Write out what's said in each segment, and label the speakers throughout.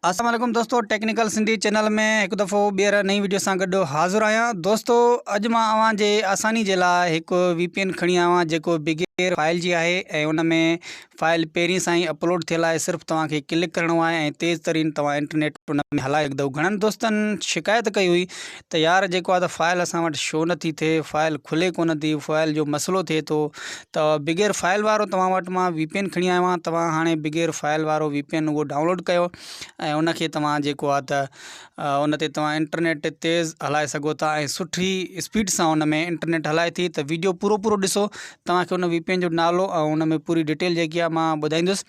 Speaker 1: السلام علیکم دوستو ٽيڪنيڪل سنڌي چينل ۾ هڪ دفعو ٻيهر نئين ويڊيو سان گڏ حاضر آهيان دوستو اڄ مان اوهان جي آساني جي لاء هڪ وي پي اين کڻي آيو آهيان جيڪو بغير فائل جي آهي ۽ ان ۾ فائل پهرين سان ئي اپلوڊ ٿيل آهي صرف توهان کي ڪلڪ ڪرڻو آهي ۽ تيز ترين توهان انٽرنيٽ ان ۾ هلائي سگهندو گهڻن دوستن شڪايت ڪئي هئي ته يار جيڪو آ ته فائل اسان وٽ شو نٿي ٿئي فائل کلي ڪو نه ٿي فائل جو مسئلو ٿئي ٿو ته بغير فائل وارو توهان وٽ مان وي پي اين کڻي آيو آهيان توهان هاڻي بغير فائل وارو وي پي اين هو ڊائونلوڊ ڪيو ۽ ان کي توهان جيڪو آ ته ان تي توهان انٽرنيٽ تيز هلائي سگهو ٿا ۽ سٺي اسپيڊ سان ان ۾ انٽرنيٽ هلائي ٿي ته ويڊيو پورو پورو ڏسو توهان کي ان وي پي اين جو نالو ۽ ان ۾ پوري ڊيٽيل جيڪي آ مان ٻڌائيندس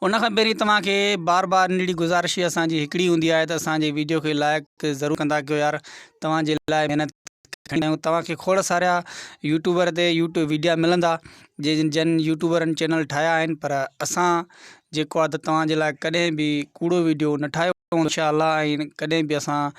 Speaker 1: ان کان پهرين توهان کي بار بار نڙي گذارش هي اسان جي هڪڙي هوندي آهي ته اسان جي ويڊيو کي لائق ضرور ڪندا ڪيو يار توهان جي لاء محنت کڻي آيون توهان کي کوڙ سارا يوٽيوبر تي يوٽيوب ويڊيا ملندا جن جن يوٽيوبرن چينل ٺاهيا آهن پر اسان جيڪو آهي ته توهان جي لاء ڪڏهن به ڪوڙو ويڊيو نه ٺاهيو انشاء الله ۽ ڪڏهن به اسان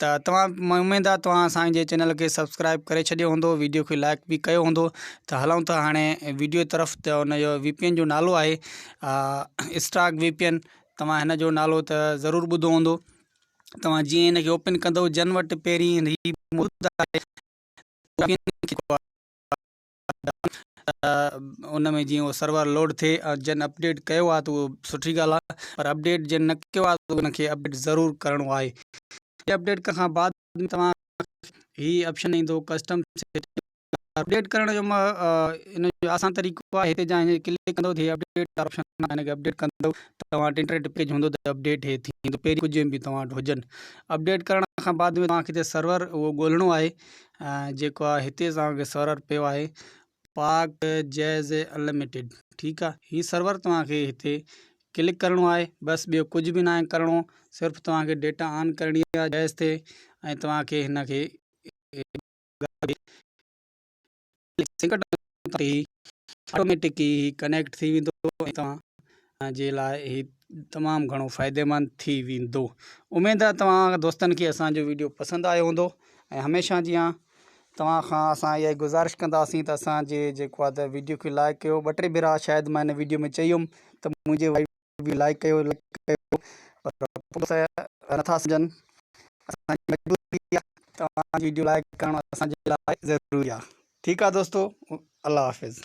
Speaker 1: ته توهان اميد آ توهان اسان جي چينل کي سبسڪرائب ڪري ڇڏيو هوندو ويڊيو کي لائڪ به ڪيو هوندو ته هلون ٿا هاڻي ويڊيو طرف ته ان جو وي پي اين جو نالو آهي اسٽاڪ وي پي اين توهان هن جو نالو ته ضرور ٻڌو هوندو توهان جيئن ان کي اوپن ڪندو جن وٽ پهرين ان ۾ جيئن سرور لوڊ ٿئي جن اپڊيٽ ڪيو آهي ته اهو سٺي ڳالهه آهي پر اپڊيٽ جن نه ڪيو آهي ته ان کي اپڊيٽ ضرور ڪرڻو آهي ۽ اپڊيٽ ڪرڻ کان بعد توهان هي آپشن ايندو ڪسٽم اپڊيٽ ڪرڻ جو ان جو آسان طريقو آهي هتي جا هن ڪلڪ ڪندو ته هي اپڊيٽ وارو آپشن آهي ان کي اپڊيٽ ڪندو توهان وٽ انٽرنيٽ پيج هوندو ته اپڊيٽ هي ٿيندو پهرين ڪجهه ايم بي توهان وٽ هجن اپڊيٽ ڪرڻ کان بعد توهان کي هتي سرور اهو ڳولڻو آهي جيڪو آ هتي توهان کي سرور پيو آهي پاڪ جيز انلميٽيڊ ٺيڪ آ هي سرور توهان کي هتي ڪلڪ ڪرڻو آهي بس ٻيو ڪجهه به ناهي ڪرڻو صرف توهان کي ڊيٽا آن ڪرڻي آهي جيز تي ۽ توهان کي هن کي سنڪٽن تي هي آٽوميٽڪ ئي ڪنيڪٽ ٿي ويندو ۽ توهان جي لاء هي تمام گهڻو فائديمند ٿي ويندو اميد آهي توهان دوستن کي اسان جو ويڊيو پسند آيو هوندو ۽ هميشه جيان توهان کان اسان اها ئي گذارش ڪنداسين ته اسان جي جيڪو آهي ته ويڊيو کي لائڪ ڪيو ٻه ٽي ڀيرا شايد مان هن ويڊيو ۾ چئي هيم ته منهنجي ويو لائڪ ڪيو لائڪ ڪيو پر پوء ته نٿا سمجهن اسان جي مجبوري آهي توهان جي ويڊيو لائڪ ڪرڻ اسان جي لاء ضروري آهي ٺيڪ آهي دوستو الله حافظ.